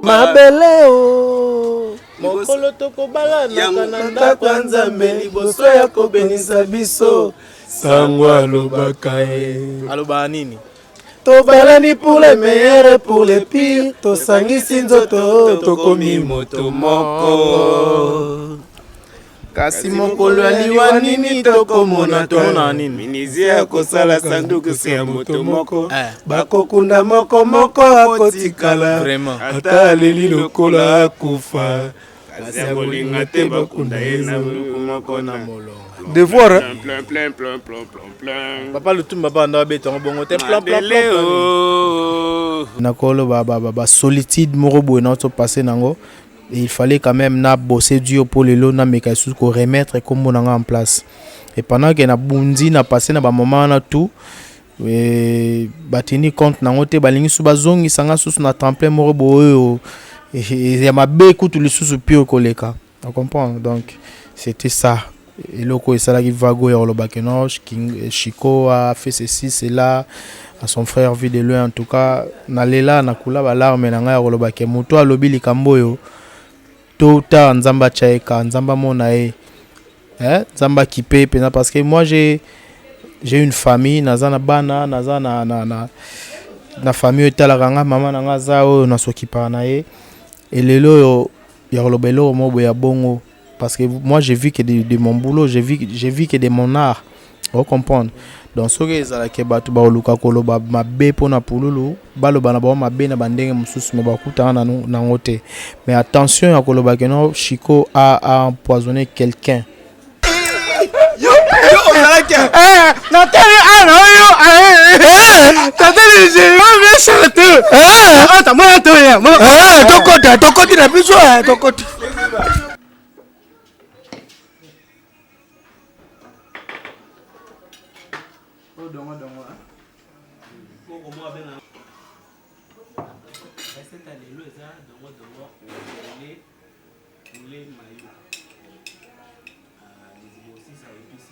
mabele o mokolo tokobalanaka na ndako ya nzambe liboso ya kobenisa biso sango alobaka ye alobaka nini tobalani pour le meilleur et pour le pire tosangisi nzoto tokomi moto moko kasi mokolo ya liwa nini tokomona tona nini minizia ya kosala sanduku se ya moto moko eh. bakokunda moko moko akotikala ata aleli lokola akufa Kasi akolinga te bakunda ye na moko na molongo. Devoir. Hein? Plein, plein, plein, plein, plein, plein. Papa Lutumba ba na beta ngo bongo te plein plein plein. Oh. Na kolo ba ba ba solitude moko boye na to passer nango. Et il fallait quand même na bosser dur pour les lots na meka sous ko remettre comme on en place. Et pendant que na bundi na passer na ba moment na tout Eh, batindi compte nango te balingi su bazongisa nga susu na temple moko boyo eh, eh, ya mabe kutu lisusu pire koleka na comprendre donc c'était ça eloko esalaki vago ya koloba ke no chico a fait ceci cela à son frère vie de loin en tout cas nalela nakula balarme na ngai ya koloba ke moto alobi likambo oyo Tôt ou tard, Nzambe achaeka, Nzambe amona ye. Hein? Nzambe akipe pena parce que moi j'ai j'ai une famille, naza na bana, naza na na na na famille etalaka nga, mama na nga za oyo na s'occupaka na ye. Et lelo yo ya koloba eloko moko ya bongo parce que moi j'ai vu que de, de mon boulot, j'ai vu j'ai vu que de mon art. o comprendre donc soki ezala ke bato bakoluka koloba mabe mpo na pululu baloba na bango mabe na bandenge mosusu me bakutana na yango te mais attention ya koloba ke no chico a, a empoisonne quelqu'un natali ana oyo tokota tokoti na biso tokoti Oh, dongo dongo. Koko mo abena. Recette ya lelo eza dongo dongo lele lele mayo. Ah, les aussi ça épice.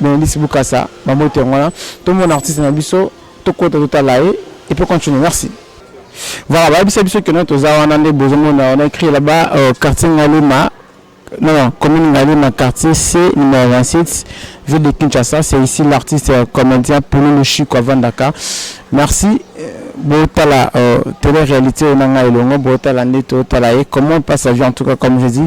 Benedicte Bukasa ba mbote yango wana to mona artiste na biso to kota to tala ye et puis continuer merci. Voilà ba bisa biso que non toza wana nde bozo mona on a écrit là-bas euh, quartier Ngalema non, non commune Ngalema quartier C numéro 27 ville de Kinshasa c'est ici l'artiste euh, comédien Polo Lushiko avant Dakar. Merci euh, botala euh, télé réalité onanga elongo botala nde totala ye comment passe sa vie en tout cas comme je dis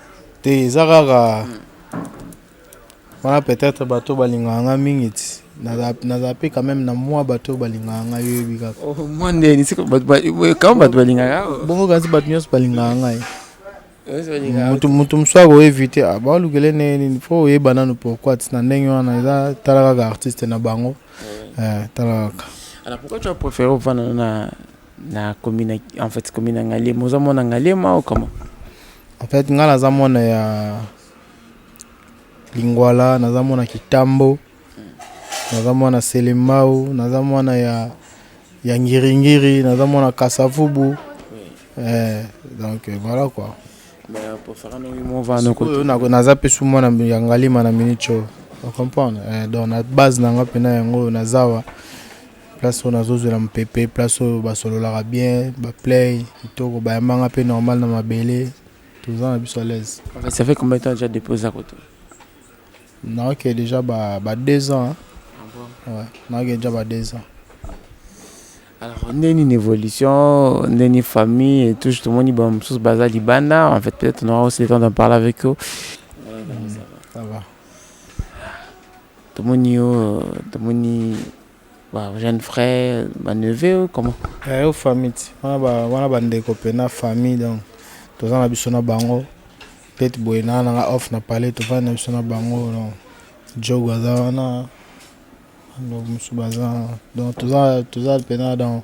te eza kaka wana peut-être bato balingaka nga mingi ti naza pe quand même na mwa bato balingaka nga yoyebi kaka oh, mwa ndeni kama bato balingaka bongo kasi bato nyonso balingaka ngai moto mosusu akoevite ah, balukele ndenge nini fo oyeba nanu pourquoi ti na ndenge wana eza tala kaka artiste na bango eh, tala kaka alors pourquoi tu as préféré ovanda na Na commune ya- en fait commune ya Ngaliema. Oza mwana Ngaliema ou comment? En fait nga naza mwana ya Lingwala, naza mwana Kitambo, naza mwana Selembao, naza mwana ya ya Ngiri Ngiri, naza mwana Kasavubu. Eh, donc euh, voilà quoi. Mais pour faire un oui mon va no ko. Oyo nako- naza mpe su mwana ya Ngalima na Minicho. O comprendre? Eh, donc na base na nga mpena yango oyo naza awa. place oyo nazozwela mopepe place oyo basololaka bien baplay kitoko bayambanga mpe normal na mabele toza na biso alaise ça fait combien de temps déjà depuis oza koto naoke déjà ba, ba deux ans ah bon? ouais, naoke déjà ba deux ans alors nde nini évolution nde nini famille et tout tomoni ba mosusu baza libanda en fait peut-être on aura aussi le temps d'en parler avec eux mm, ça va tomoni yo tomoni Ba jeunes frères, ba neveux, comment? Eh, yo famille, wana ba wana ba ndeko pe na famille donc toza na biso na bango peut-être boye na nanga off na palais tovandi na biso na bango donc jogo aza wana donc mosusu baza donc toza toza mpena donc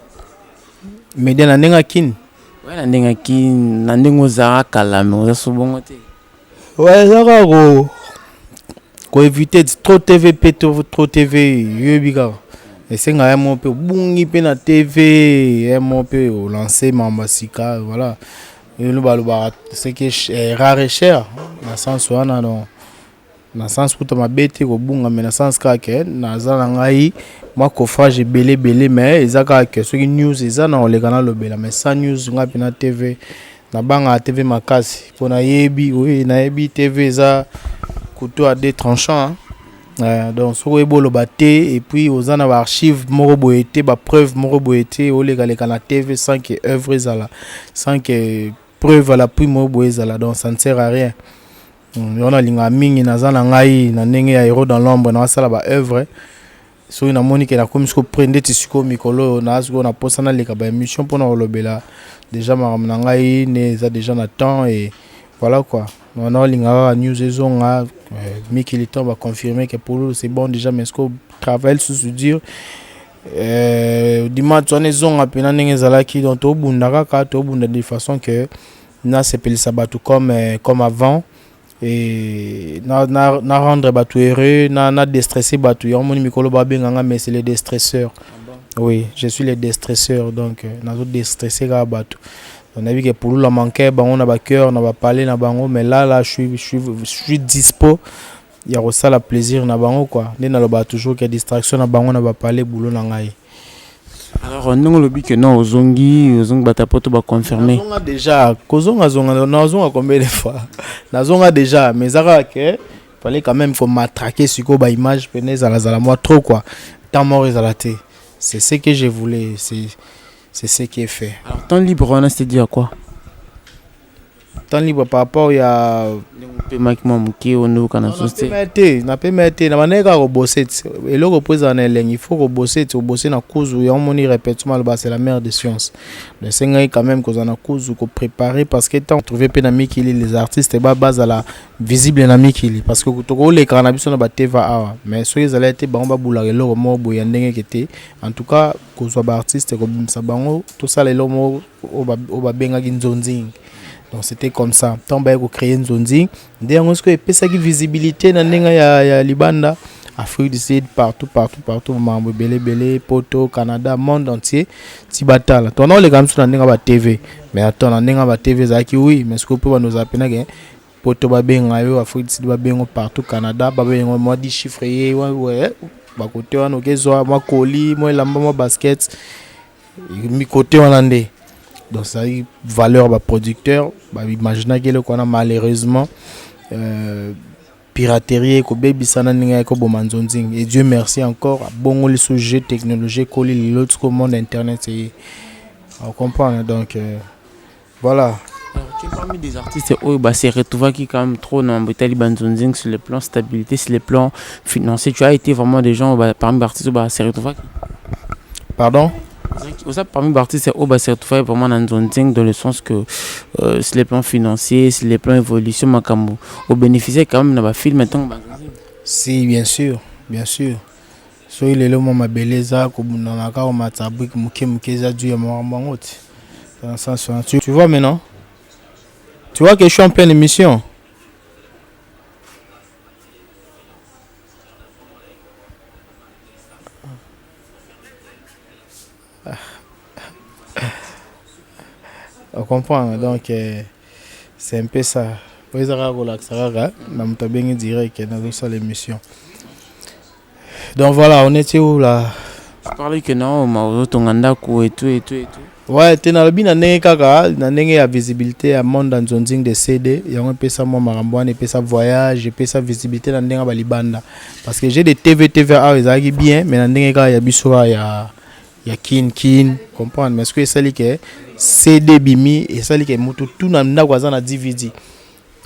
media na ndenge ya kin oya na ndenge ya kin na ndenge ozala kala me oza so bongo te oya eza kaka ko koevite trop tv mpe trop tv yoyebi kaka esenga ya moko mpe obungi mpe na tv ya moko mpe olance mambo ya sika voilà elobalobaka seke eh, rare cher na sens wana donc na sens kuta mabe te kobunga mais na sens kaka ke naza na ngai mwa coffrage ebele ebele mais eza kaka ke soki news eza na oleka na lobela mais sans news ngai pena tv na banga tv makasi po nayebi oui nayebi tv eza couteau à deux tranchants Euh, donc soki oyebi oloba te et puis oza na baarchive moko boye te bapreuve moko boye te olekaleka na tv sans que œuvre ezala sans que preuve à l'appui moko boye ezala donc ça ne sert à rien Hmm, yango nalingaka mingi naza na ngai na ndenge ya hero dans l'ombre naasala ba œuvre soki namoni ke nakomi siko pre ndeti sikoyo mikolo oyo naa sikoyo na posa naleka ba émission mpona kolobela déjà makambo na ngai ne eza déjà na temps et voilà quoi naolinga kaka news ezonga euh, mikili temps baconfirme ke pululu c'est bon déjà mais siko travail susu dire euh, dimanche wana ezonga mpena ndenge ezalaki donc tobunda kaka tobunda de façon que Na sepelisa batu comme comme avant et na na na rendre batu heureux na na destresser batu yango moni mikolo ba benga nga mais c'est le destresseur oui je suis le destresseur donc nazo destresser kaka batu na yebi ke pulula manquait bango na ba cœur na ba palais na bango mais là là je suis je suis je suis dispo ya kosala plaisir na bango quoi nde na lobaka toujours que distraction na bango na ba palais boulot na ngai Alors, ndenge olobi que non ozongi ozongi bato ya poto baconfirme nazonga déjà kozonga zonga nazonga combien de fois nazonga déjà mais eza kaka ke fallait quand même komatrake sikoyo baimage mpena ezalazala mwa trop quoi temps mort ezala te c'est ce que je voulais c'est c'est ce qui est fait Alors, temps libre wana c'est dû à quoi Temps libre par rapport ya ndenge opemaki mwa moke oyo nde okana susu te napema te napema te na bandaki kaka kobose ti eloko mpo ezala na elengi il faut kobose ti obose na kuzu yango omoni répétition maloba c'est la mère de science donc esengaki quand même kozala na kuzu koprépare parce que temps trouve mpe na mikili les artistes ba bazala visible na mikili parce que tokolekaka na biso na bateva awa mais soki ezalaki te bango babulaka eloko moko boye ya ndenge eke te en tout cas kozwa baartiste kobimisa bango tosala eloko moko oyo babengaki nzonzing donc c'était comme ça ntango baye kocreye nzonzing nde yango sikoyo epesaki visibilité na ndenge ya, ya libanda afrique du sud partout partout partout mambo ebele ebele poto canada monde entier ti batala to na oleka misu na ndenge ba tv mais ato na ndenge ba tv ezalaki oui mais sikoyo mpe bando ozala mpe nake poto babenga yo afrique du sud babengo partout canada babengo mwa di chiffre ye bakote wana okezwa mwa koli mwa elamba mwa basket mi côté wana nde donc ezalaki valeur baproducteur baimaginaki eloko wana malheureusement euh, piraterie ekobebisa na ndenge ekoboma nzonzingi et dieu merci encore abongoli so jeu technologie ekoli lelo tiko monde internet eye ocomprendre donc euh, Voilà. Alors, tu es parmi des artistes oyo ba se retrouvaki quand même trop na mambo etali banzonzing sur le plan stabilité, sur le plan financier. Tu as été vraiment des gens ba, parmi artistes oyo ba se retrouvaki. Pardon oza parmi baartiste oyo base retrouvaki vraiment na nzonzing dans le sens que euh, sur le plan financier sur le plan évolution makambo obénéficie quand même na bafilme ntango si bien sûr bien sûr Soki lelo mwa mabele eza kobundana kaka komata brique moke moke eza dû ya makambo yango te. Dans le sens wana. Tu, tu vois maintenant? Tu vois que je suis en pleine émission? On comprend donc euh, c'est un peu ça. Oyo eza kaka kolakisa kaka na moto abengi direct nazosala émission. Donc voilà, on était où là Tu parlais que non, ma ozotonga ndako et tout et tout et tout. Ouais, te nalobi na ndenge kaka na ndenge ya visibilité ya monde en zonzing de CD, yango epesa mwa makambo wana epesa voyage, epesa visibilité na ndenge ya balibanda. Parce que j'ai des TV TV awa ezalaki bien, mais na ndenge kaka ya biso awa ya ya kin kin, comprendre? Mais ce que esali que CD bimi, esali que mutu tout na ndako aza na DVD.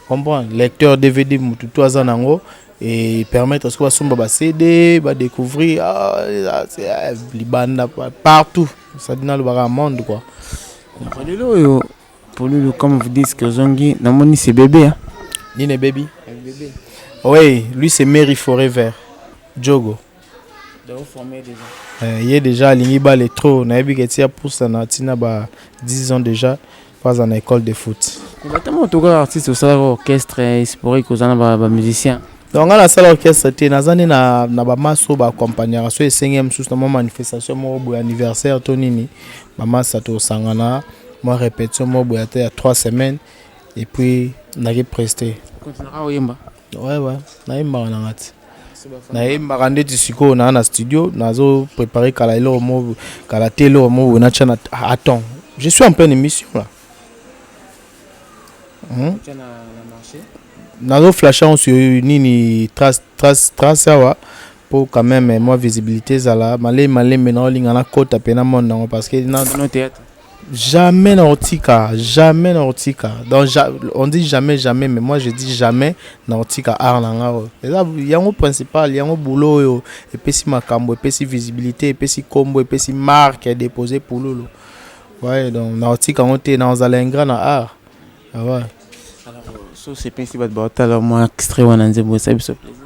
comprendre lecteur dvd mutu tu aza nango et permettre soki basomba ba cd ba découvrir ah, ah, ah, libanda partout sadi nalobaka monde quoi lelo oyo polulu comme vous dites que ozongi namoni c'est bébé hein? nini ebebi oui lui c'est mary forever jogo Eh, ye deja alingi bale trop nayebi ke ti apusa na ntina ba 10 ans deja mpo aza na école de foot batama otoka artiste osalaka orchestre esporik oza na bamusicien donc ngai nasala orchestre te naza nde na, na bamasa oyo baakompagnaka so esengi ya mosusu na mwa manifestation moko boye anniversaire to nini bamasa tosangana mwa répétition moko boye ata ya 3 semaines epuis naki preste oyemba Ouais, ouais. nayembaka na nga ti nayembaka ndeti sikoyo naa na studio nazo prépare kala eloko mo kala te eloko mo boye natya na attend je suis en pleine émission là hmm? nazo flashe yango sur nini trace trace trace awa mpo quand même mwa visibilité ezala malei malembe naolinga nakota mpe na monde yango parce que na théâtre Jamais na otika, jamais na otika. Donc on dit jamais jamais mais moi je dis jamais na otika art na nga oyo. Eza yango principal, yango boulot oyo epesi makambo, epesi visibilité, epesi kombo, epesi marque ya déposer pululu. Ouais, donc na otika yango te, na ozala ingrat na art. Ah ouais. Alors so sepesi bato baotala mwa extrait wana nzembo esa biso plaisir.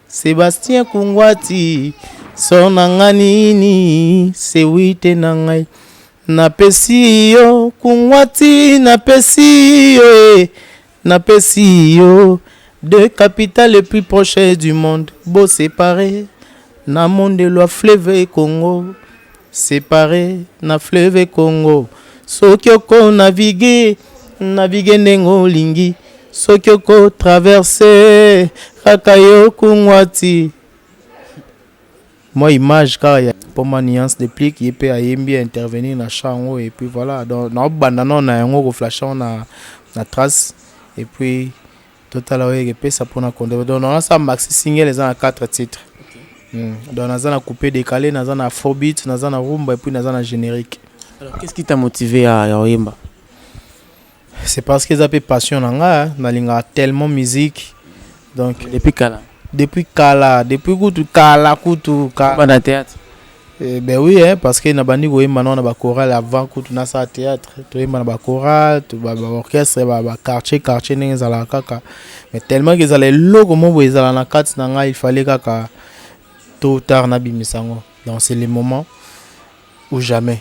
Sebastien Kungwati sor na nga nini sewite na ngai napesi yo Kungwati napesi yo e napesi yo de capitale le plus proche du monde bo separe na monde lwa fleuve Congo Separe na fleuve Congo soki oko navigue navigue ndenge olingi soki oko traverse kaka yo kungwati moi image kaka ya poma nuance de plique ye pe ayembi intervenir na chant yango et puis voilà donc na banda na na yango ko flasher na na trace et puis Totala oyo ekepesa mpo na konde donc nasala maxi single eza na 4 titre hmm. donc naza na coupe décalé naza na afrobeat naza na rumba epuis naza na générique alors qu'est ce qui t'a motivé ya, ya oyemba c'est parce que eza mpe passion na nga nalingaka tellement musique donc depuis kala depuis kala depuis kutu kala kutu kala na théâtre Eh ben oui hein, parce que nabandi koyemba nao na ba chorale avant kutu nasala théâtre toyemba na ba chorale to ba, ba orchestre ba, ba quartier quartier ndenge ezalaka kaka mais tellement que ezala eloko moko boye ezala na kati na ngai il fallait kaka tôt ou tard nabimisa yango donc c'est le moment ou jamais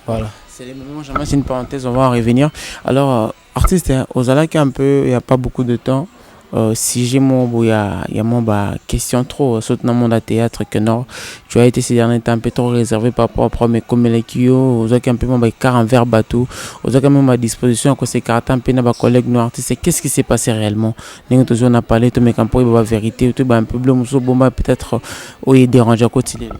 voilà C'est le moment, jamais, c'est une parenthèse, on va en revenir. Alors, euh, Artiste ozalaki un peu il ya pas beaucoup de temps euh, sujet moko boye ya, ya mwa ba question trop surtout na monde ya théâtre que non tu as été ces derniers temps un peu trop réservé par rapport à problème ekomelaki yo ozwaki un peu mwa ba écart envers bato ozwaki mwa ba disposition ya kosekarate un peu na ba collègue no artiste qu'est ce qui s'est passé réellement ndenge tozwi na palais tomeka mpo oyeba ba vérité toyeba un peu bilo mosusu obomba peut-être oye dérange akoti lelo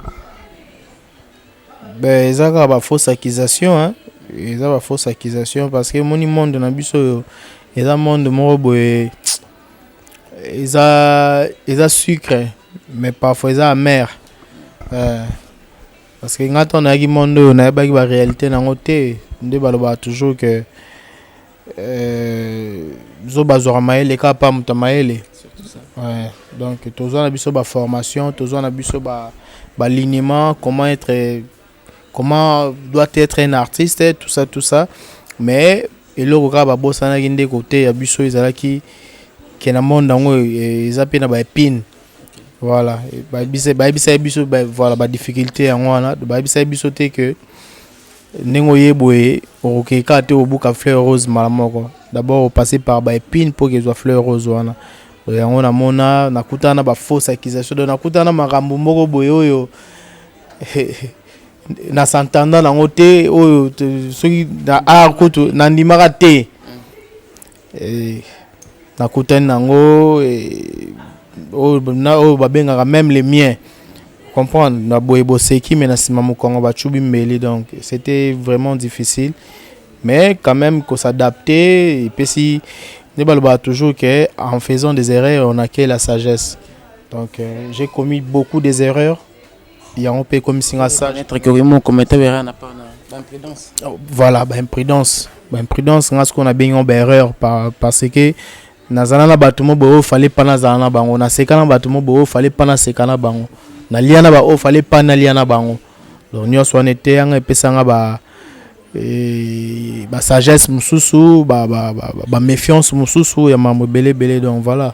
Ba eza kaka ba fausse accusation hein, eza ba fausse accusation parce que omoni monde na biso oyo eza monde moko boye eza eza sucre mais parfois eza amer euh, parce que nga tango nayaki monde oyo nayebaki ba realite na yango te nde balobaka toujours que Euh, zoba azwaka mayele kaka pa moto ya mayele ouais. donc tozwa na biso baformation tozwa na biso baliniment ba comment être comment doit être un artiste tout ça tout ça mais eloko kaka babosanaki nde koteya biso ezalaki ke na monde yango e, eza mpe na baepine voilà bayebisaki biso voilà badifficulté yango wana bayebisaki biso te que Ndenge oye boye okokei kaka te obuka fleur rose mbala moko. D'abord opase par ba epines mpo kezwa fleur rose wana. Donc yango namona nakutana na ba fausses accusations. Donc nakutana na makambo moko boye oyo na s'entendant nango te oyo soki na art kutu nandimaka te. nakutani na yango na oyo babengaka meme le mien comprendre na boye boseki mais na nsima mokongo bacubi mbeli donc c'était vraiment difficile mais quand même ko s'adapter epesi nde balobaka toujours que en faisant des erreurs on acquiert la sagesse donc euh, j'ai commis beaucoup des erreurs yango mpe ekomisi nga sage oh, voilà baimprudence baimprudence nga sikoyo nabengi yango baerreur parce que nazala na bato mo boye oyo fale mpa nazala na bango naseka na bato mo boye oyo fale mpa naseka na bango nalia na baoyo fale mpa nalia na bango donc nyonso wana eteyanga epesanga ba eh, basagesse mosusu baméfiance ba, ba, ba mosusu ya mambo ebele ebele donc voilà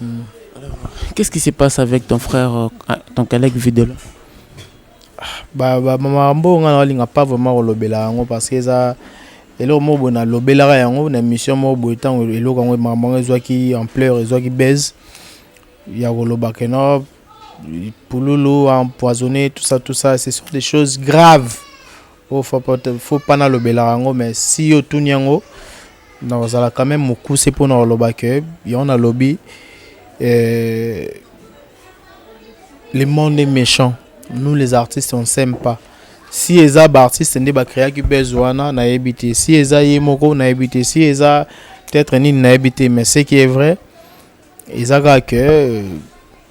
Hmm. Alors, qu'est-ce qui se passe avec ton frère, euh, ah, ton collègue Videla bah, bah, maman Rambo, on n'a pas vraiment relobé là, parce que ça. eloko moko boye nalobelaka yango na émission moko boye ntango eloko yango makambo yango ezwaki ampleur ezwaki base ya koloba ke no pululu empoisonné tout ça tout ça ce sont des choses graves Oyo faux pas te, faux pas nalobelaka yango mais si yo otuni yango nakozala quand même mokuse mpo na koloba que yango nalobi euh, le monde est méchant nous les artistes on s'aime pas si eza baartiste nde bacreaki buzz wana nayebi te si eza ye moko nayebi te si eza peut-être nini nayebi te mais ce qui est vrai eza kaka ke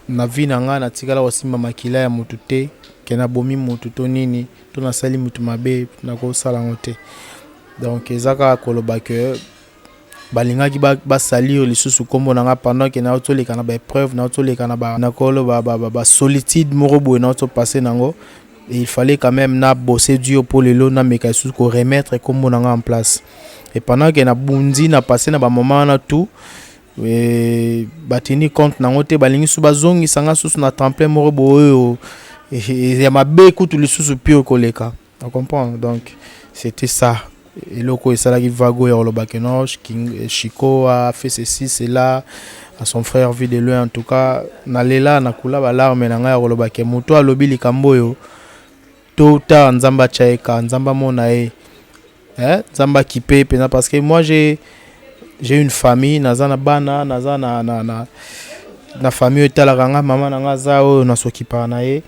na vie na nga natikala kosimba makila ya mutu te ke nabomi mutu to nini to nasali mutu mabe nakosala yango te donc eza kaka koloba ke balingaki basalir lisusu nkombo na nga pendant ke nauti oleka na baepreuve nauti oleka na nakoloba basolitude moko boye nauti opasse na yango il fallait quand même na bosse dur mpo lelo nameka lisusu koremettre nkombo na nga en place et pendant ke nabundi na passe na bamoment wana tout Eh, batindi compte nango te balingi su bazongisa nga susu na temple moko boyo eh, eh, ya mabe kutu lisusu pire koleka na comprendre donc c'était ça eloko esalaki vago ya koloba ke no chico a fait ceci cela à son frère vie de loin en tout cas nalela nakula balarme na ngai ya koloba ke moto alobi likambo oyo Tôt ou tard, Nzambe achaeka, Nzambe amona ye. Hein? Nzambe akipe pena parce que moi j'ai j'ai une famille, naza na bana, naza na na na na famille etalaka nga, mama na nga za oyo na s'occupaka na ye.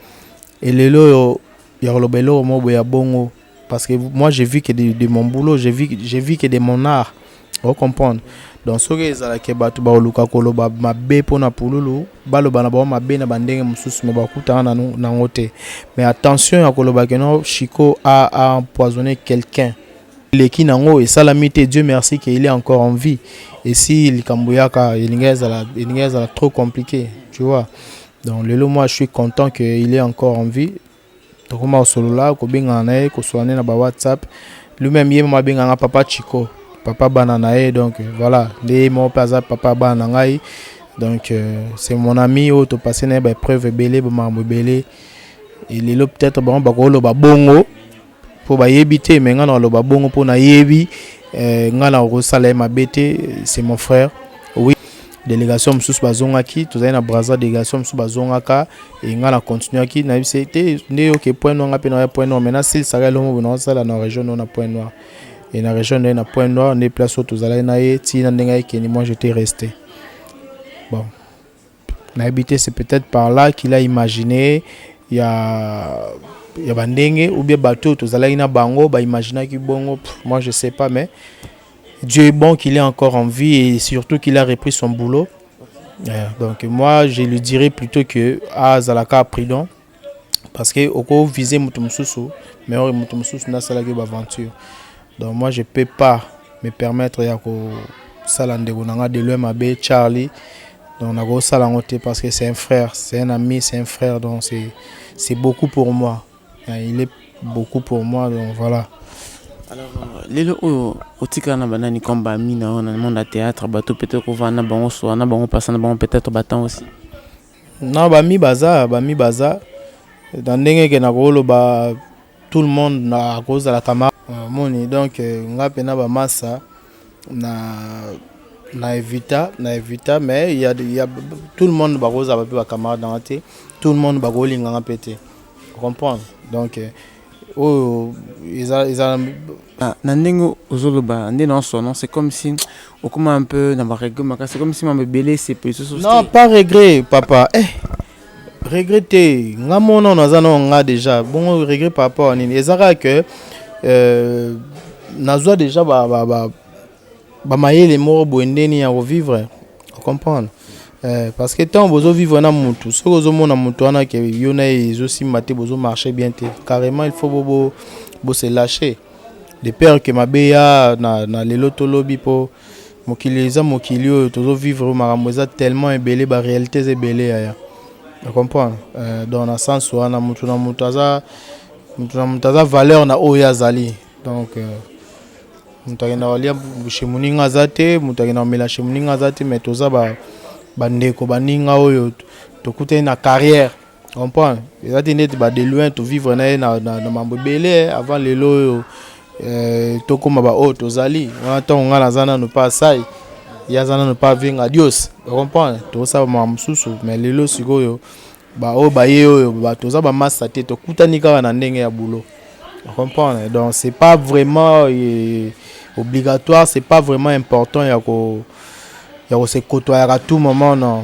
Et lelo yo ya koloba eloko moko ya bongo parce que moi j'ai vu que de, de mon boulot, j'ai vu j'ai vu que de mon art. o comprendre donc soki ezala ke bato bakoluka koloba mabe mpo na pululu baloba na bango mabe na bandenge mosusu me bakutana na nango te mais attention ya koloba ke no chico a, a empoisonne quelqu'un eleki nango esalami te dieu merci ke il est encore en vie esi likambo yaka elingi ezala elingi ezala trop compliqué tu vois donc lelo moi je suis content que il est encore en vie tokoma kosolola kobengana na ye kosolola nde na ba whatsapp lui-même ye mama abenga nga papa chico papa bana na ye donc voilà nde ye moko mpe aza papa bana na ngai donc euh, c'est mon ami oyo topase na ye baepreuve ebele bamakambo ebele lelo peut-être bango bakoloba bongo Po ba yebi te mais nga nako loba bongo po na yebi nga nako ko sala ye mabe te c'est mon frère. Delegation mosusu bazongaki tozali na Brazza delegation mosusu bazongaka e ngai na continuaki nayebisa ye te nde oke point noir ngai mpe naya point noir mai nasilisaka elongo boye naosala na region nayo na point noir e na region naye na point noir nde place oyo tozalaki na ye ntina ndenge ayekendi moi jete reste bon Nayebi te c'est peut-etre par là qu'il a imagine ya ya ba ndenge ou bien bato oyo tozalaki na bango ba imaginaki bongo Pff, moi je sais pas mais Dieu est bon qu'il est encore en vie et surtout qu'il a repris son boulot Euh, donc moi je lui dirais plutôt que azalaka prudent parce que oko viser mutu mususu mais ori mutu mususu na salaki ba aventure donc moi je peux pas me permettre ya ko sala ndeko na nga de loin mabe Charlie donc na ko sala ngo te parce que c'est un frère c'est un ami c'est un frère donc c'est c'est beaucoup pour moi il est beaucoup pour moi donc voilà alors euh, lelo oyo otikala na banani comme bami na yo na monde ya théâtre bato peut-être kovanda na bango soa na bango mpasa na bango peut-être batemp aussi Non ba mi baza ba mi baza na ndenge ke na koloba tout le monde na kozala camarade moni donc nga pe na ba masa na na evita na evita mais il ya il ya tout le monde bakozala pe ba camarade na nga te tout le monde bakolinga nga pe te comprendre donc Oyo eza eza ah, na ndenge ozoloba nde na son non c'est comme si okoma un peu na ba regret makasi comme si mambo ebele esepeli soso non pas regret papa eh regret te nga mona naza na nga déjà bongo regret par rapport à nini ezaka que euh, nazwa déjà ba, ba, ba ba mayele moko boye nde nini ya ko vivre o comprendre eh, parce que tant bozo vivre na mutu soki ozo mona mutu wana ke yo na ye ezo simba te bozo marcher bien te carrément il faut bo bo, bo se lâcher de peur que mabe ya na, na lelo to lobi po mokili eza mokili oyo tozo vivre makambo eza tellement ebele ba réalités ebele yaya o comprendre eh, donc na sens wana mutu na mutu aza mutu na mutu aza valeur na oyo azali Donc euh, moto akenda kolia chez moninga aza te moto akenda komela chez moninga aza te mais toza ba bandeko baninga oyo tokutani na carrière comprendre eza te ndeti ba de loin tovivre na ye na mambo ebele eh, avant lelo oyo eh, tokóma baoyo tozali wana ntango ngai naza nano mpe asai ye aza nano mpe avenga dios ocomprendre tokosala makambo mosusu mais lelo sikoyo Ba oyo ba ye oyo ba toza ba masta te to kutani kaka na ndenge ya boulot. Vous comprenez? Donc c'est pas vraiment euh, obligatoire, c'est pas vraiment important ya ko ya ko se côtoyer à tout moment non.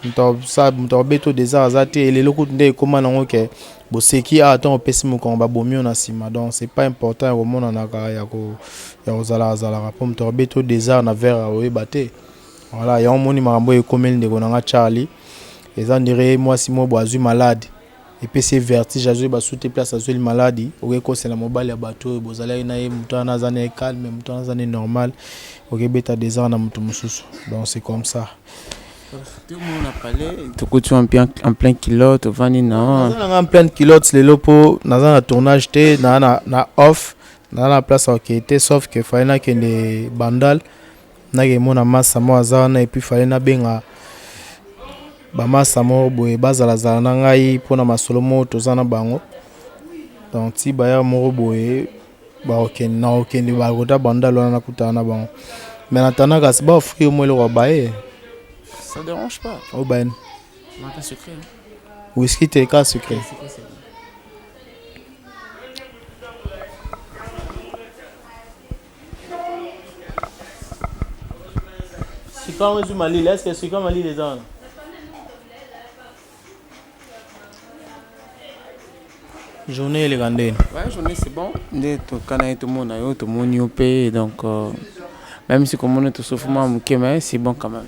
Moto sa moto abeto désert aza te et lelo kutu nde ekoma nango ke boseki awa ntango opesi mokongo babomi yo na nsima donc c'est pas important ya komonanaka ya ko ya kozalaka zalaka mpo moto abeto désert na verre oyeba te voilà yango omoni makambo oyo ekomeli ndeko na nga charlie Eza ondire ye muasi moko boye azui malade epesi ye vertige azo yeba su te place azueli maladi oke kosela mobali ya batu oyo bozalaki na ye mutu wana aza na ye calme mutu wana aza na ye normal oke beta desordre na mutu mosusu donc c'est comme ça tomona pale tokuti wa mpe en plein kilote ovandi na naza nanga en pleine kilote lelo mpo naza na tournage te naa na, na off naza na place ya okei te sauf que fali nakende bandal nake mona masa mo aza wana epuis fale nabenga bamasa moko boye bazalazala na ngai mpona masolo moko toza na bango donc ti baya moko boye bakokende na kokende bakota bandal wana nakutana na bango mais natanda kasi baofri yo mo eloko ya baye ça dérange pas o bayani wiski te ka secret Sika yango ezwi malili, est-ce que sika malili eza wana? journée eleka ndeni ouais, journée c'est bon nde tokana ye tomona yo tomoni yo mpe donc euh, même si komona tosofuma moke mais c'est bon quand même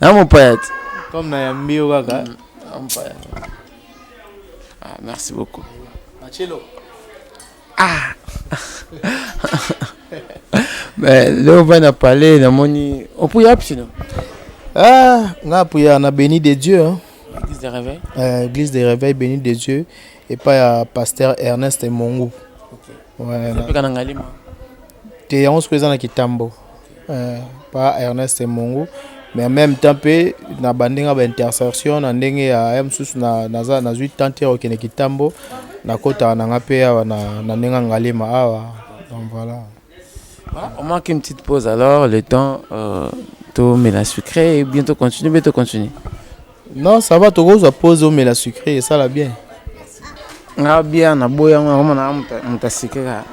na mopaya te comme na yambi yo kaka mm, na mopaya ah, merci beaucoup Marcello ah mais leo va na parler namoni opuya psino ah nga apuya na béni de dieu hein? église de réveil euh, église de réveil béni de dieu epai ya pasteur ernest mongu okay. Zapeka na ngalima te yango sikoyo eza na kitambo eh, pa ernest mongu mais en même temps mpe na bandi nga baintersertion na ndenge ya ya mosusu nazwi tante ya kokende kitambo nakotaka na nga mpe awa na ndenge ya ngalima awa donc voilà Voilà, on marque une petite pause alors, le temps euh, tout mais la sucré et bientôt continue, bientôt continue. Non, ça va, tokozwa pause omela sucre esala bien. Nga bia na boya yango nakoma na muta sucre ka.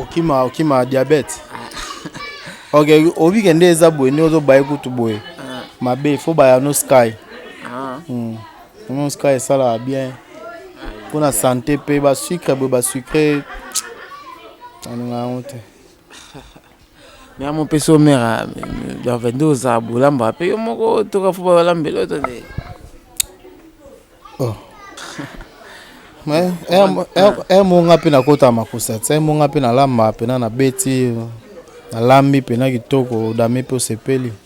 Okima okima diabète. ok, obi kende eza boye nde ozo baye kutu boye. Ah. Mabe, faut baya no sky. Ah. Hmm. No sky esala bien. Pona santé pe ba sucre boye ba sucre. Alinga yango te. Mais à mon peso mère, dans 22 aux aboulamba, paye mon go, tout à fait, balambe, l'autre, oh. emonga mpe nakota makusa ti emonga mpe nalamba mpena na beti nalambi mpena kitoko odami mpe osepeli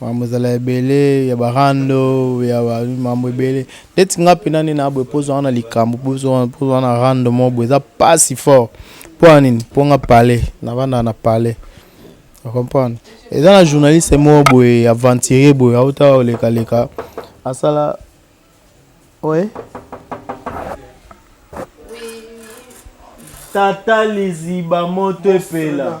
Makambo ezala ebele ya ba rando ya ba makambo ebele ndeti nga pena nde na boye pozo wana likambo pozo wana pozo wana rando mo boye eza pasi fort mpo ya nini mpo nga palais navanda na palais comprendre eza na journaliste mo boye aventurier boye auta oleka leka asala oye tata liziba moto epela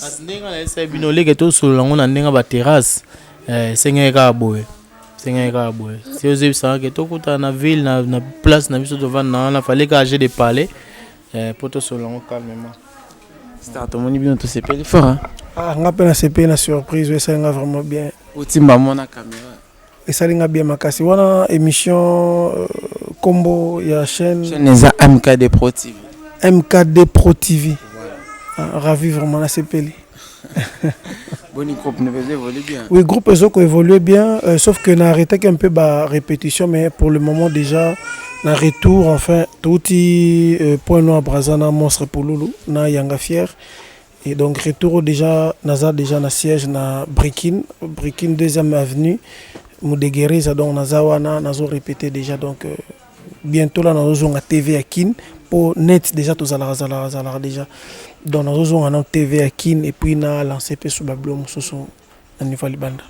Kasi ndenge nga nayebisaki bino leke tosolola yango na ndenge ya baterrasse eh, esengeli kaka boye esengeli kaka boye si ozebisaka ke tokutana na ville na, na place na biso tovanda na wana fale kaka je de parler eh, mpo tosolola yango calmement star tomoni bino tosepeli fort hein? ah, nga mpe nasepeli na surprise oyo esali nga vraiment bien otimba mona kamera Esali nga bien makasi wana emission euh, kombo ya chaîne chaîne eza MKD Pro TV MKD Pro TV ah, ravi vraiment na sepeli Boni groupe ne faisait évoluer bien. Oui, groupe Ezoko évoluait bien, euh, sauf que n'a arrêté qu'un peu bas répétition, mais pour le moment déjà, na retour, enfin, tout euh, point noir Brazana, monstre Pouloulou, na Yanga Fier. Et donc retour déjà naza déjà na siège na Brikin, Brikin deuxième avenue Mudegereza donc naza wana nazo répéter déjà donc euh, bientôt là nazo zonga TV à Kin pour net déjà tous zala zala zala déjà donc nazo zonga na TV à Kin et puis na lancer pe sur bablo mususu na niveau libanda.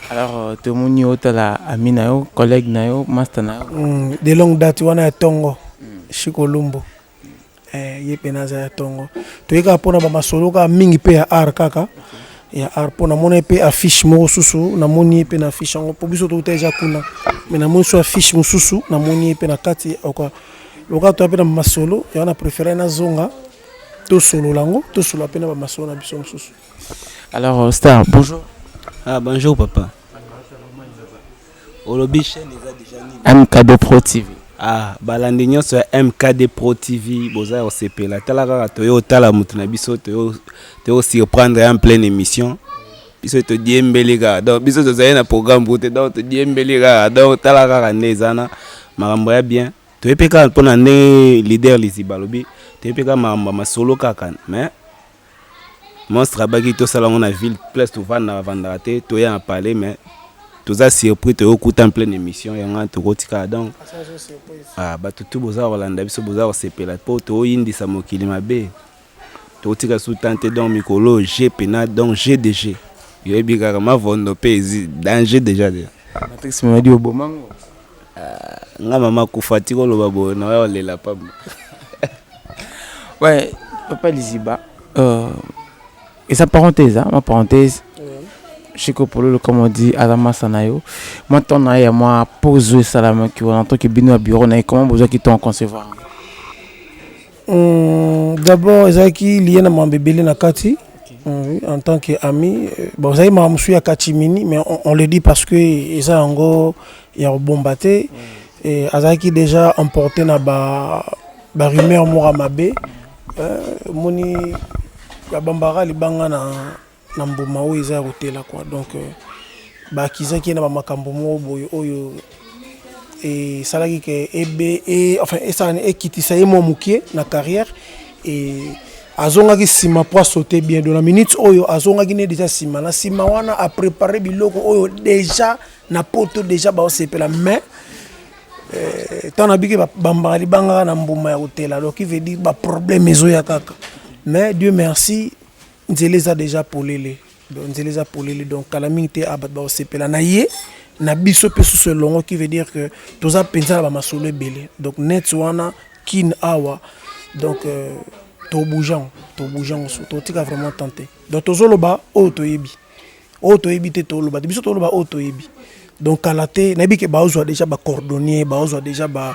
Alors euh, tout le monde est là, ami na yo, collègue na yo, master na yo. Mm, de longue date wana ya Tongo, mm. Chico Lumbo. Eh, ye pena aza ya tongo toye kaka mpona bamasolo kaka mingi mpe ya art kaka ya art mpo namona ye mpe affiche moko susu namoni ye mpe na affiche yango mpo biso touta eza kuna me namoni so affiche mosusu namoni ye mpe na kati oka loka toya mpe na bamasolo yango na préféré nazonga tosolola yango tosolola mpe na bamasolo na biso mosusu alors euh, star bonjour ah bonjour papa olobi chaîne eza deja nini mkd pro tv ah balandi nyonso ya mkd pro tv boza ya kosepela tala kaka toye otala moto na biso toye kosurprendre ya pleine émission biso todiembeli kaka donc biso tozali na programme kute donc todiembeli kaka donc tala kaka nde eza na makambo ya bien toye mpe kaka mpo na ndenge leader liziba alobi toye mpe kaka makambo ya masolo kaka mais Monstre abaki tosala yango na ville place tovanda avandaka te toya na palais mais toza surpris toyokuta en pleine émission yango wana tokotikala donc ah, bato tu boza kolanda biso boza kosepela mpo toyindisa mokili mabe tokotika su tan te donc mikolo oyo je pena donc je de je yoyebi kaka mavondo mpe danger déjà déjà matrix mamadi obomango nga mama kufa ti koloba boye na oya olela pamba ouais papa liziba euh, eza parenthèse hein, ma parenthèse Chico Pololo, comme on dit, Adama Sanayo. Moi, ton aïe, moi, pose salam, qui en tant que bino à bureau, n'a comment besoin qu'ils t'ont concevoir. Hum, d'abord ezalaki liye na mambo ebele na kati oui, en tant que ami euh, bon ezalaki makambo mosusu ya katimini mais on, on le dit parce que eza yango ya kobomba te Et azalaki déjà emporté na ba barumeur moko ya mabe Euh, omoni babambaka libanga na na mbuma oyo eza ya kotela kwa donc euh, bakizaki ye na bamakambo moko boye oyo esalaki ke ebe e, enfin esala ekitisa ye mwa mokie na carrière e azongaki nsima mpo asote bien do na minute oyo azongaki ne deja nsima na nsima wana aprépare biloko oyo deja na poto deja baosepela mais ntango euh, nabiki bambaka libangaka na mbuma ya kotela donc il veut dire baproblème ezoya kaka mais dieu merci nzela eza deja polele donc nzela eza polele donc kala mingi te a ah, bato bakosepela na ye na biso mpe susu elongo qui veut dire que toza mpenza na bamasolo ebele donc net wana kin awa donc euh, tobougeango tobougeango so totika vraiment tente donc tozoloba oyo toyebi oyo toyebi te toloba te biso toloba oyo toyebi donc kala te nayebi ke baozwa déjà bacordonnier baozwa déjà ba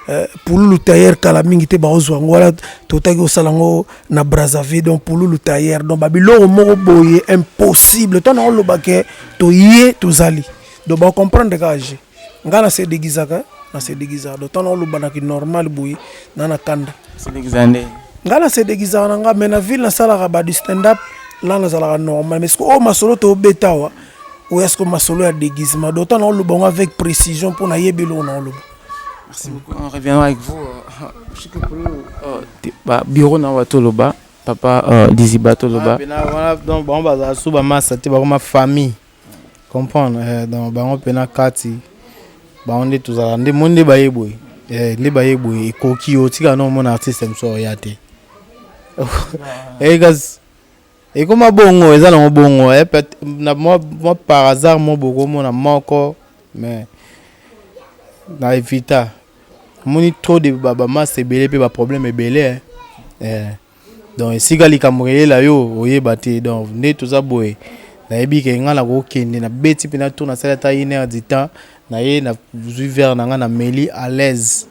euh, pululu tailleur kala mingi te baozwa yango wana totaki kosala yango na brazzaville donc pululu tailleur donc babiloko moko boye impossible ntango naoloba ke toye tozali donc bacomprendre kaka je nga na se deguisaka na se deguisaka donc tana oloba na ki normal boye na na kanda se deguisaka nde nga na se deguisaka na nga mais na ville nasalaka ba du stand up la nazalaka normal mais sikoyo oyo masolo tobeta awa oya sikoyo masolo ya déguisement donc ntango naoloba yango avec précision mpo nayebi eloko naoloba merci beaucoup on reviendra avec vous euh, euh, bureau na wato loba papa euh, diziba toloba ah, donc bango bazala so bamasa te bakoma famille comprendre eh, donc bango mpe na kati bango nde tozala nde moni nde baye boye eh, nde baye boye ekoki yo tika na omona artiste mosusu oya te ekas eh, ekoma bongo eza nango bongo eh, na mwa, mwa par hasard mo bokomona moko mais na evita omoni trop de bamasa ebele mpe baproblème ebele eh. donc esika likambo eyela yo oyeba te donc nde toza boye nayebi ke ngai nakokende na beti mpe na tour nasali ata une heure du temps naye nazwi verre na ngai na meli à l'aise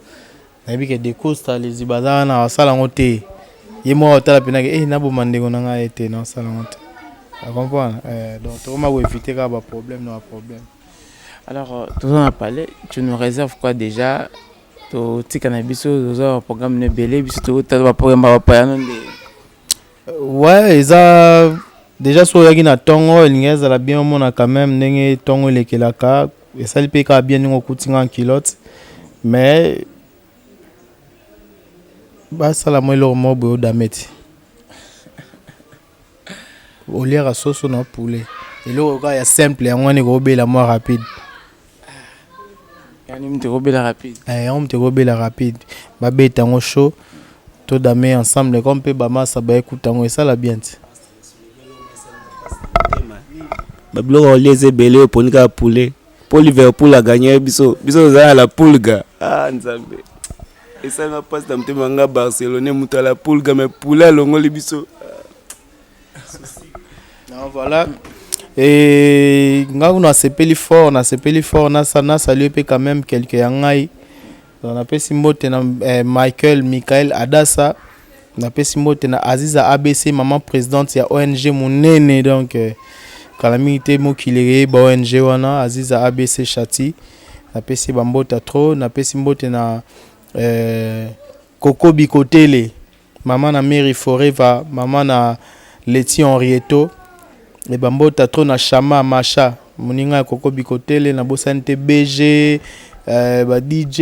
nayebi ke decosta liziba aza wana asala yango te ye moko otala mpenake e eh, naboma ndeko na ngai ete nasala yango te acomprendre eh, donc tokoma koevite kaka baproblème na baproblème alors euh, toza na palais tu nous réserve quoi déjà totika na biso oza ba programme na ebele biso tokotala ba programme ba bapayano nde ouais eza déjà so oyaki na ntongo elingi ezala bien omona quand même ndenge ntongo elekelaka esali mpe kaka bien ndenge okuti nga nkilote mais basala mwa eloko moko boye odame ti oliaka soso na poulet eloko kaka ya simple yango wana ekobela mwa rapide yani moto ekobela rapide eh, yango moto ekobela rapide babeta yango chaud to dame ensemble comme mpe bamasa baekuta yango esala bien ti babiloko olia eza ebele oponi kaka poulet Pour Liverpool a gagné biso biso za la pulga. Ah nzambe. Esanga passe na motema nga Barcelone moto ya la pulga mais poule alongoli biso. Non voilà. Et nga kuna sepeli fort na sepeli fort na sa na saluer pe quand même quelques ya ngai. Napesi mbote na eh, Michael Michael Adassa, napesi mbote na Aziza ABC, maman présidente ya ONG munene donc eh, kala mingi te mokili eyeba ONG wana Aziza ABC Chati, napesi bambota trop, napesi mbote na eh, Koko Bikotele Maman na Mary forever maman na Letty Henrietto et ba mbota trop na Shama Masha muninga ya koko Bikotele na bosani te BG eh, ba DJ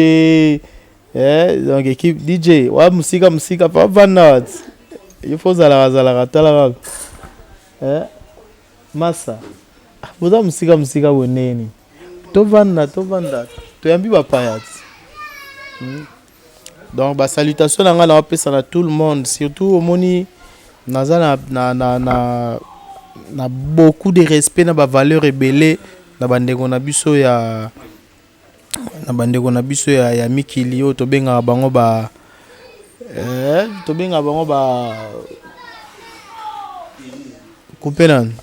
eh, donc équipe DJ wa musika musika pa bana il faut zalaka zalaka tala kaka eh, masa ah, boza musika musika boneni tovanda tovanda toyambi bapaya hmm. Donc ba salutation na nga na pesa na tout le monde surtout omoni naza na, na, na, na, na beaucoup de respect na ba valeur ebele na bandeko na biso ya na bandeko na biso ya, ya mikili oyo tobengaka bango ba eh, tobengaka bango ba kupe nani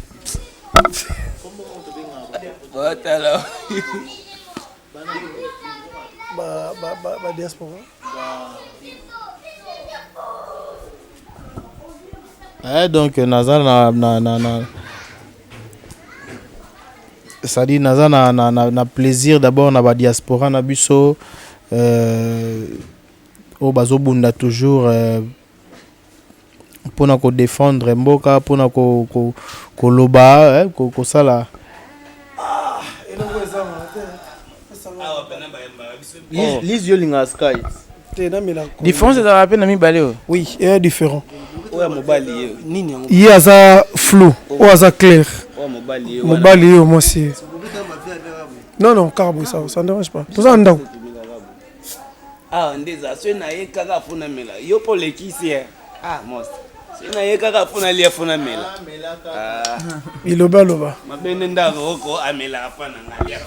ba, ba, ba, ba diaspora eh, donc naza na, na, na, na c'est-à-dire naza na, na, na, na plaisir d'abord na ba diaspora na biso euh, oyo bazobunda toujours euh, pona ko defendre mboka pona koloba kosala Liz yo olingaka sky difference ezalaka mpe na mibale oyo oui eya différent oyo ya mobali ye nini yango ye aza flou oyo aza clair mobali ye mwasi ye non non kaka boye ça ça ne dérange pas toza na ndako awa nde eza soki naye kaka mpo namela yo mpo olekisi ye ah mos soki naye kaka mpo nalia mpo namela bilobaloba mabe nde ndako oko amelaka mpo na ngai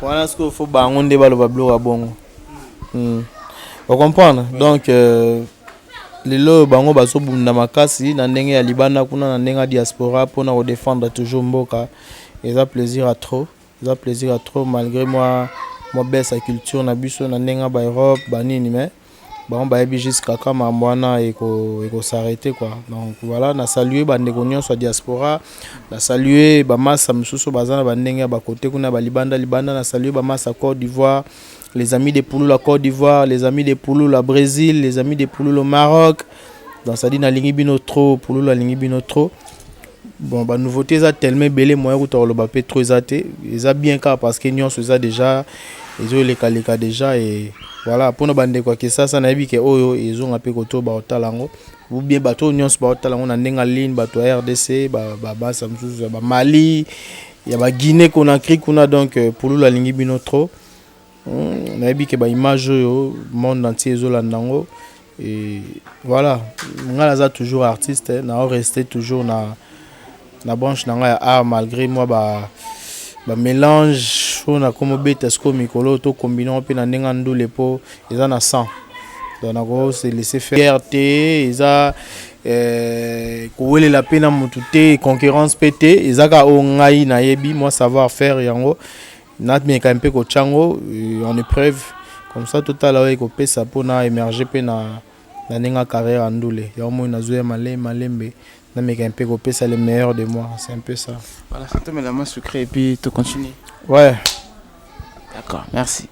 wana sikoyo fo bango nde baloba biloko ya bongo hmm. ocomprendre donc euh, lelo oyo bango bazobunda makasi na ndenge ya libanda kuna na ndenge ya diaspora mpona kodefendre toujours mboka eza plaisir ya trop Eza plaisir ya trop malgre mwa mwa baisse ya culture na biso na ndenge ya ba Europe ba nini mais bango bayebi juste kaka mambo wana eko eko s'arrêter quoi donc voilà na saluer ba ndeko nyonso ya diaspora na saluer ba massa misusu baza na ba ndenge ya ba côté kuna ba libanda libanda na saluer ba massa Côte d'Ivoire les amis des pouloula Côte d'Ivoire les amis des pouloula Brésil les amis des pouloula Maroc donc ça dit na lingi bino trop pouloula lingi bino trop Bon ba nouveauté eza tellement ebele moyen kuta koloba pe trop eza te eza bien kaka parce que nyonso eza déjà ezoleka leka déjà et voilà mpona bandeko ya kisasa nayebi ke oyo ezonga mpe koto baotala yango ou bien bato oyo nyonso baotala yango na ndenge aline bato ya rdc babasa mosusu ya bamali ya baguine conakry kuna donc euh, pululu alingi bino trop hmm, nayebi ke baimage oyo monde entier ezolanda yango Et voilà, nga naza toujours artiste, eh, na rester toujours na na branche na nga ya art malgré moi ba ba mélange oyo nakomi obeta sikoyo mikolo oyo tokombinango mpe na ndenge ya ndule mpo eza na sang donc nako se laisser faire te eza eh, kowelela mpe na motu te concurrence mpe te eza kaka oyo ngai nayebi mwa savoir faire yango Nameka mpe kotya yango en epreuve comme ça totala oyo ekopesa mpo na emerger mpe na na ndenge ya carrière ya ndule yango moi nazoya male malembe nameka mpe kopesa le meilleur de moi c'est un peu ça Voilà, ça tombe la main sucrée et puis tu continues. ouais D'accord, merci.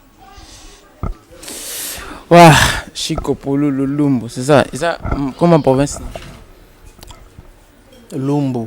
Ouah, Chico Polo Lulumbu, c'est ça. Et ça, hum, comment province lumbu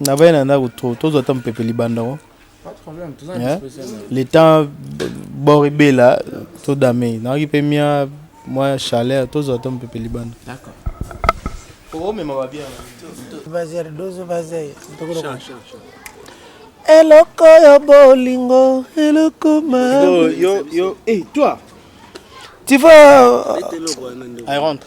Na vaya na ndako trop tozo ata mpepe libanda ngo. Pas de problème, toza na disposition. Le temps bord ebela to dame. Na ki pe mia moi chaleur tozo ata mpepe libanda. D'accord. Oh mais ma va bien. Vazer dozo vazer. Sha sha sha. Eloko yo bolingo, eloko ma. Yo yo yo, eh toi. Tu vas. I rentre.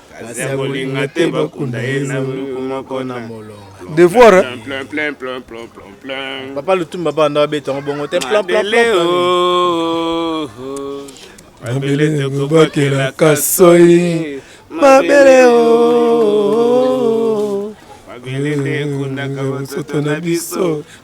Kasi akolinga te bakunda ye na moko na molongo. Devoir. Hein? Plein, plein, plein, plein, plein, plein. Papa Lutumba ba na beta ngo bongo te plein plein plein. Oh, oh. Mabele tokobakela kasoi. Mabele o. Oh. Mabele te kundaka basoto na biso.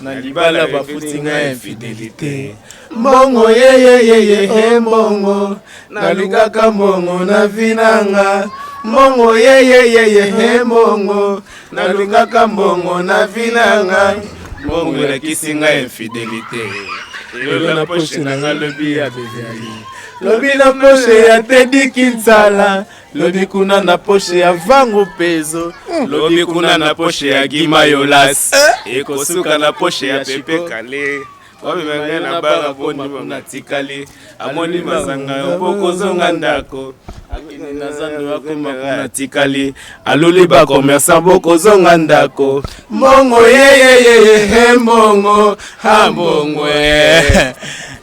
na libala bafuti nga infidelite mbongo yeyeyeye e mbongo nalukaka mbongo na vi nanga mbongo yeyeyeye e mbongo nalukaka mbongo na vi nanga mbongo elakisi nga infidelite lelo na poshe nanga lobi ya beviali lobi na poshe ya tedi kinsala lobi kuna na poshe ya vangu pezo hmm. lobi kuna na poshe ya gimayolas eh? ekosuka na poshe ya pepe kale wamemenge na banga boni natikali amoni masanga yo mpo kozonga ndako akende na zando akoma natikali aluli bakomersan bokozonga ndako mbongo yeyeyeye he mbongo ha mbongo eh.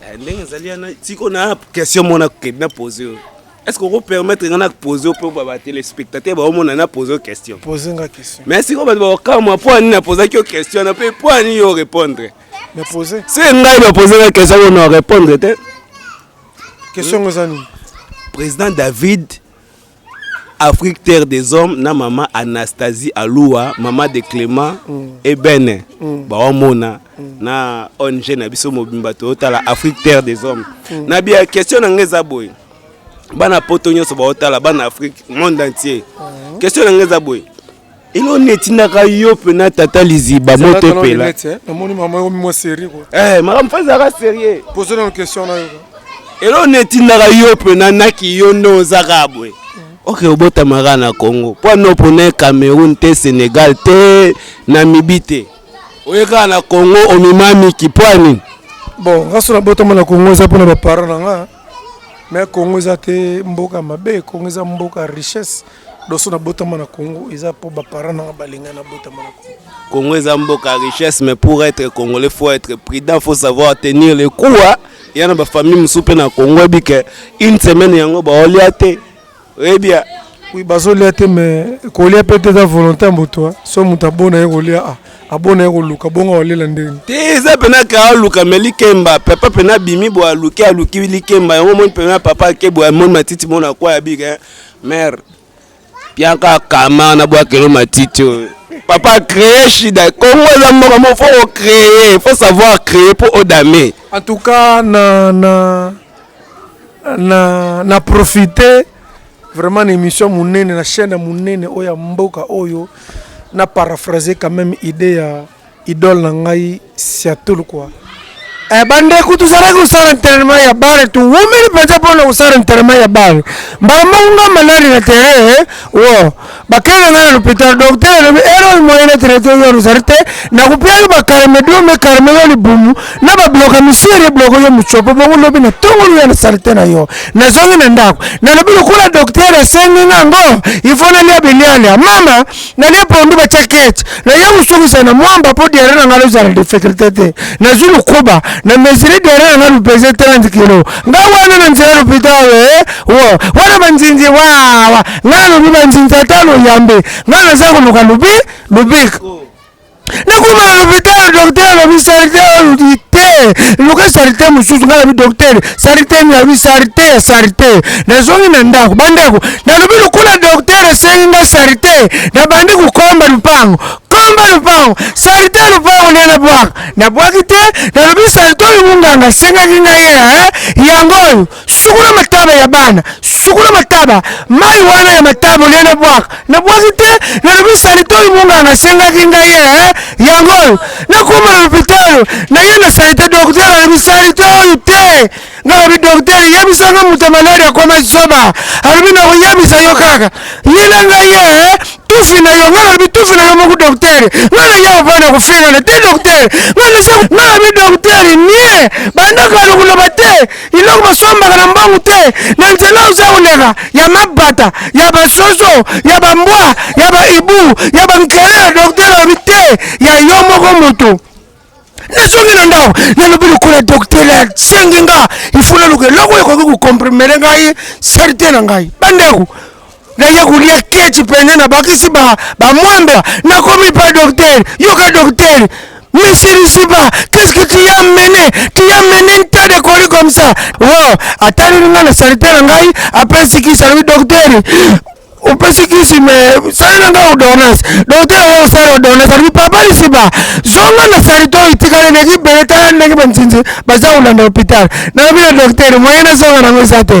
Eh, ndenge ezali yana tiko na question mona kokende na pose oyo est ce que okopermettre nga na pose oyo mpo batelespectateur baomona na pose oyo question pose nga question mais sikoyo bato bakokamwa mpo ani napozaki yo question na mpe mpo ani yo orépondre na pose se ngai napose nga question oyo na orépondre te question yango eza nini président david Afrique terre des hommes na mama Anastasie Alua mama de Clément mm. Ebene mm. baomona mm. na ONG na biso mobimba totala Afrique terre des hommes mm. na bia question na ngai eza boye bana poto nyonso baotala bana Afrique monde entier mm. question na ngai eza boye elo netindaka yo mpena tata liziba moto epela eh? namoni mama yo mimwa serie ko eh makambo fa ezalaka serie pozo nano question na yo elo netindaka yo mpena naki yo nde ozaka boye oke obotamaka na congo mpo ano mpona cameroun te sénégal te namibi te oyekaka na congo omimamiki mpo anini bon nga so nabotama na congo eza mpona baparent na nga me congo eza te mboka mabe congo eza mboka richesse doso nabotama na congo eza mpo baparent nanga balingai nabotama na congo congo eza mboka richesse mais pour être congolais faut être prudent faut savoir tenir le coup ya na bafamille mosusu mpe na congo ebike une semaine yango baolia te oyebi ya Oui, bazolia te mais kolia mpe te eza volonté ya moto hein. so moto abona ye kolia ah, abona ye koluka bongo aolela ndenge te eza mpena ka aluka me likemba papa mpena abimi bo aluki aluki likemba yango omoni mpena papa ake bo amoni matiti mona kwa ya bika hein. mare piaka kama na bwakelo matiti oyo papa créer shida kongo eza mboka mo fo ocréer fo savoir créer mpo odame en tout cas na, na na, na profite vraiment na émission monene na chaîne ya monene oyo ya mboka oyo na paraphrase quand même idée ya idole na ngai siatul kua eh, bandeko tozalaki kosala entraînement ya bare towumeli mpenza mpona kosala entraînement ya bare mbala moko nga malali na terrain eh, wo bakenda ngai na lopitalo doktere alobi erreur moyen na traite yo ozali te nakopia yo bakarme dio me karme yo libumu na babloka misiri ebloko yo mocopo bongo lobi na tongolu ya na salite na yo nazongi na ndako nalobi lokola doktere asengi nga ngo ifo nalia bilialia mama nalia pondu batya kete naye kosukisa na mwamba mpo diare na ngai lozala difficulte te nazwi lokuba na mesiri diare na ngai lopese 30 kilo nga wana na nzela lopitalo e wo wana banzinzi wawa nga nalobi banzinza ata loyambe nga naza koluka lobi lobik nakoma na lopitalo dokter alobi salite oluki te luka salite mosusu nga nabi dokter salite nini alobi salite ya salite nazongi na ndako bandeko nalobi lokola dokter asengi nga salite nabandi kokomba lupango komba lupango salite ya lupango nde nabwaka nabwaki te nalobi salite oyo monganga asengaki ngai ye yango oyo sukola mataba ya bana sukola mataba mai wana ya mataba olie na bwaka na bwaki te nalobi salite oyo monganga asengaki ngai ye eh, yango oyo nakoma na lopitalo naye na salite doktere alobi salite oyo te ngai lobi doktere yebisanga moto ya maladi akoma zoba alobi nakoyebisa yo kaka ye na ngai ye eh, tufi na yo ngai nalobi tufi na yo moko doktere ngai naya ovanda kofingana te doktere ngai nalobi doktere nie bandaka lokoloba te eloko basombaka na mbangu te na nzela oza koleka ya mabata ya basoso ya bambwa ya baibu ya bankele ya doktere alobi te ya yo moko moto nazongi na ndako nalobi lokola doktere asengi nga ifo naluka eloko ekoki kokomprimere ngai salite na ngai bandeko naye kolia keci mpenza nabakisi bamwamba ba nakomi pa doktere yoka doktere Monsieur Luciba, qu'est-ce que tu as mené Tu as mené un tas de colis comme ça. Oh, atali nga na salite na ngai, apesi kisi alobi docteur opesi kisi me salela nga ordonnance docteur oyo osala ordonnance alobi papa lisiba zonga na salite oyo itikali ndenge ibele tala ndenge banzinzi baza kolanda hopital nalobi na docteur moyen nazonga nango eza te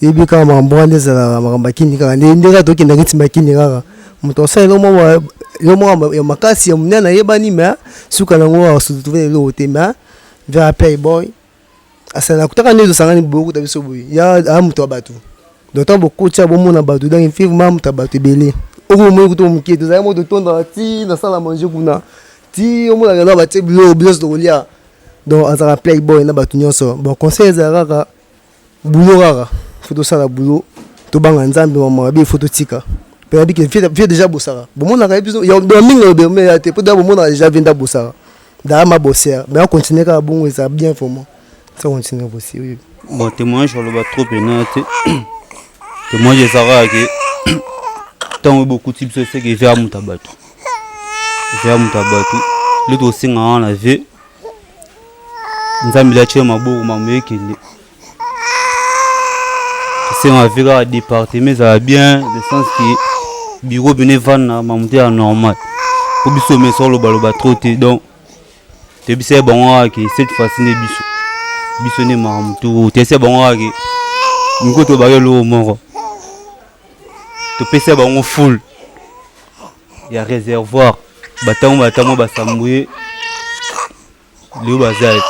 Yebi kaka makambo wana nde ezalaka makambo ya kini kaka nde nde kaka tokendaka neti makini kaka moto asala eloko moko ya- eloko moko ya ma- ya makasi ya monene ayebani me suka nango asututube na eloko te me via playboy asala nakutaka nde tosangani boye okuta biso boye ya aa moto ya bato donc ntango bokoti awa bomona bato donc effectivement aza moto ya bato ebele oyo bomoni kutu oyo moke te ezalaki moko totondaka ti na salle à manger kuna ti omona lelo awa batie biloko biso nyonso tokolia donc azalaka playboy na bato nyonso bon conseil ezala kaka Boulot kaka, faut tosala boulot, tobanga Nzambe maman mabe, faut totika. Pe nabi ke vie deja bosaka. Bomonaka ye biso, ya mingi na lobe mais ya te, po deja bomonaka deja vie nda bosaka. Daya ma bosser, mais a continuer kaka bongo eza bien vraiment. Ça continue bosser, oui. Bon, témoignage oloba trop pena te. Témoignage ezaka ke ntango bokuti biso eseke vie ya moto ya bato vie ya moto ya bato nde tosenga wana vie nzambe liaci ya maboko mamoyekele esengo avi kaka département ezala bien de sens ke biro bino evanda mamoto ya normal mpo biso mesa olobaloba tro te donc toyebisa ye bango kaka ke cette fois-ci nde biso biso nde mamoto toyebisa ye bango kaka ke miko tobaka eloko moko topesa bango fule ya reservoir batango batango basambuye leo baza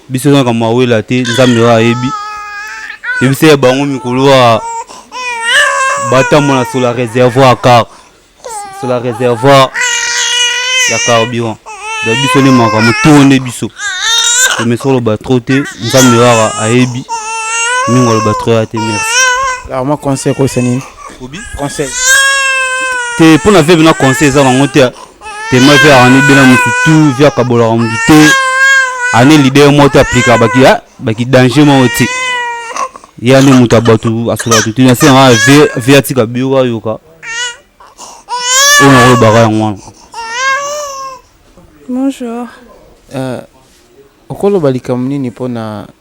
biso eza makambo awela te nzambe oyo ayebi yebisa ya bango mikolo ya batambola sur la réservoir car sur la réservoir ya carburant da biso nde makambo to nde biso omesi oloba tro te nzambe waka ayebi mingi oloba tro ya te merci alors mwa conseil koyesa nini obi conseil te mpo na vie bina conseil eza nango te tema vie arani bina motu tu vie akabolaka motu te ane leader moko te aplika baki baki danger moko te ye ane moto ya bato asola bato te nase nanga vie atika biyoka yoka oyo nakolobaka yango wana bonjour euh, okoloba likambo nini mpo na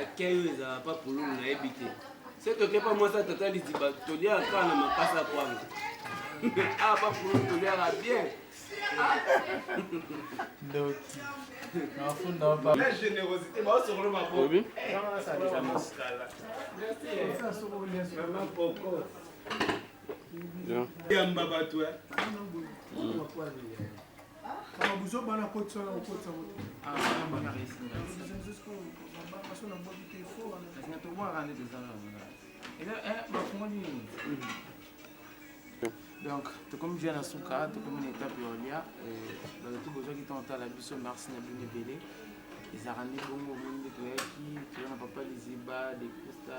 Akei oyo ezala pa pululu nayebi te. Se toke pa mwasi atata liziba toliaka kaka na makasa kwanga. Ah pa pululu toliaka bien. Ndoki. Nafunda pa. La générosité ba sokolo mabo. Oui. Vraiment poko. Yamba bato. donc tokomi via na suka tokomi na etape ya olia bato to bozwaki ntango otala biso marsi na bino ebele ezalaka nde bongo omoni nde toyaki toza na papa liziba decosta